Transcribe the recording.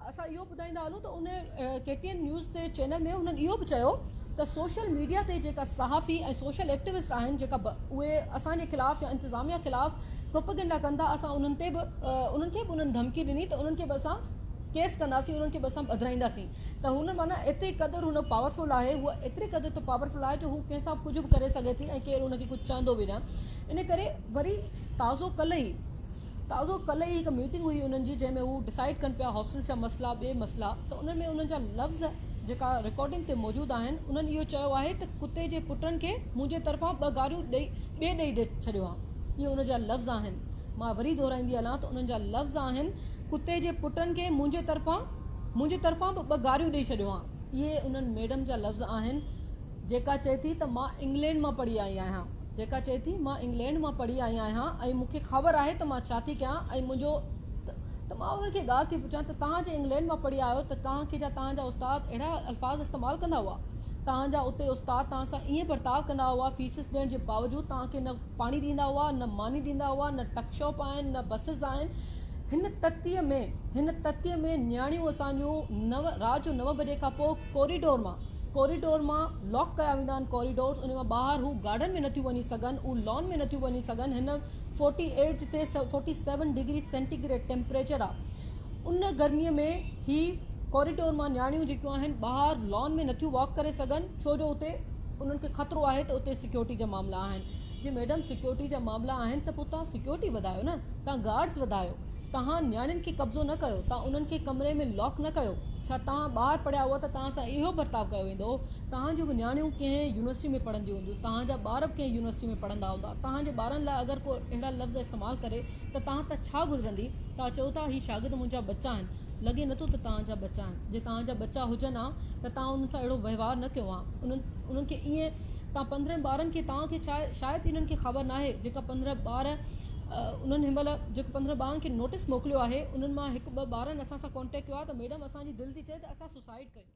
اسان اهو ٻڌائيندا هلون ته ان ڪي ٽي اين نيوز تي چينل ۾ هنن اهو به چيو ته سوشل ميڊيا تي جيڪا صحافي ۽ سوشل ايڪٽيوسٽ آهن جيڪا اهي اسان جي خلاف يا انتظاميا خلاف پروپيگنڊا ڪن ٿا اسان انهن تي به انهن کي به انهن ڌمڪي ڏني ته انهن کي به اسان ڪيس ڪنداسين انهن کي به اسان ٻڌرائينداسين ته هن معنيٰ ايتري قدر هن پاورفل آهي هو ايتري قدر ته پاورفل آهي جو هو ڪنهن سان ڪجهه به ڪري سگهي ٿي ۽ ڪير هن کي ڪجهه چوندو به نه ان ڪري وري تازو ڪلهه ئي تازو ڪلهه ئي هڪ ميٽنگ هئي انهن جي جنهن ۾ هو ڊسائيڊ ڪن پيا هاسٽلز جا مسئلا ٻي مسئلا ته انهن ۾ انهن جا لفظ جيڪا رڪارڊنگ تي موجود آهن انهن اهو چيو آهي ته ڪتي جي پٽن کي منهنجي طرفان ٻه گاريون ڏئي ٻي ڏئي ڏئي ڇڏيو آهن اهي انهن جا لفظ آهن مان وري دهرائيندي هلان ته انهن جا لفظ آهن ڪتي جي پٽن کي منهنجي طرفان منهنجي طرفان به ٻه گاريون ڏئي ڇڏيو آهن اهي انهن ميڊم جا لفظ آهن جيڪا چئي ٿي ته مان انگلينڊ مان پڙهي آئي آهيان جيڪا چئي ٿي مان انگلينڊ مان پڙهي آئي آهيان ۽ مون کي خابر آهي ته مان ڇا ٿي ڪيان ۽ منهنجو ته ته مان انهن کي ڳالهه ٿي پڇان ته توهان جي انگلينڊ مان پڙهي آيو ته توهان کي جا توهان جا استاد اهڙا الفاظ استعمال ڪندا هئا توهان جا اتي استاد توهان سان ائين برتاء ڪندا هئا فيسز ڏيڻ جي باوجود توهان کي نه پاڻي ڏيندا هئا نه ماني ڏيندا هئا نه ٽڪ شاپ آهن نه بسز آهن هن تتيء ۾ هن تتيء ۾ نياڻيون اسان جون نو رات جو نو بجي کان پوء ڪوريڊور مان ڪوريڊور مان لاڪ ڪيا ويندا آهن ڪوريڊورز انهي مان ٻاهر هو گارڊن ۾ نٿيون وڃي سگهن اهو لان ۾ نٿيون وڃي سگهن هن فورٽي ايٽ جتي forty seven degree centigrade temperature آهي ان گرمي ۾ هي ڪوريڊور مان نياڻيون جيڪيون آهن ٻاهر لان ۾ نٿيون واڪ ڪري سگهن ڇو جو اتي انهن کي خطرو آهي ته اتي سيڪيورٽي جا معاملا آهن جي ميڊم سيڪيورٽي جا معاملا آهن ته پوء توهان سيڪيورٽي وڌايو نه توهان گارڊز وڌايو توهان نياڻين کي قبضو نه ڪيو، توهان انهن کي ڪمري ۾ لاڪ نه ڪيو، ڇا توهان ٻار پڙهيا هئا ته توهان سان اهو برتاء ڪيو ويندو هو، توهان جون به نياڻيون ڪنهن يونيورسٽي ۾ پڙهنديون هونديون، توهان جا ٻار به ڪنهن يونيورسٽي ۾ پڙهندا هوندا، توهان جي ٻارن لاء اگر ڪو اهڙا لفظ استعمال ڪري ته توهان تان ڇا گذرندي، توهان چئو ٿا هي شاگرد منهنجا ٻچا آهن، لڳي نٿو ته توهان جا ٻچا آهن، جي توهان جا ٻچا هجن ها ته توهان انهن سان اهڙو وهنوار نه ڪيو ها، انهن انهن کي ائين توهان پندرهن ٻارن کي توهان کي ڇا شايد انهن کي خبر ناهي جيڪا پندرهن ٻار انهن هن مهل جيڪي پندرهن ٻارن کي نوٽيس موڪليو آهي انهن مان هڪ ٻه ٻارن اسان سان ڪانٽيڪٽ ڪيو آهي ته ميڊم اسان جي دل ٿي چئي ته اسان سوسائيڊ ڪريون.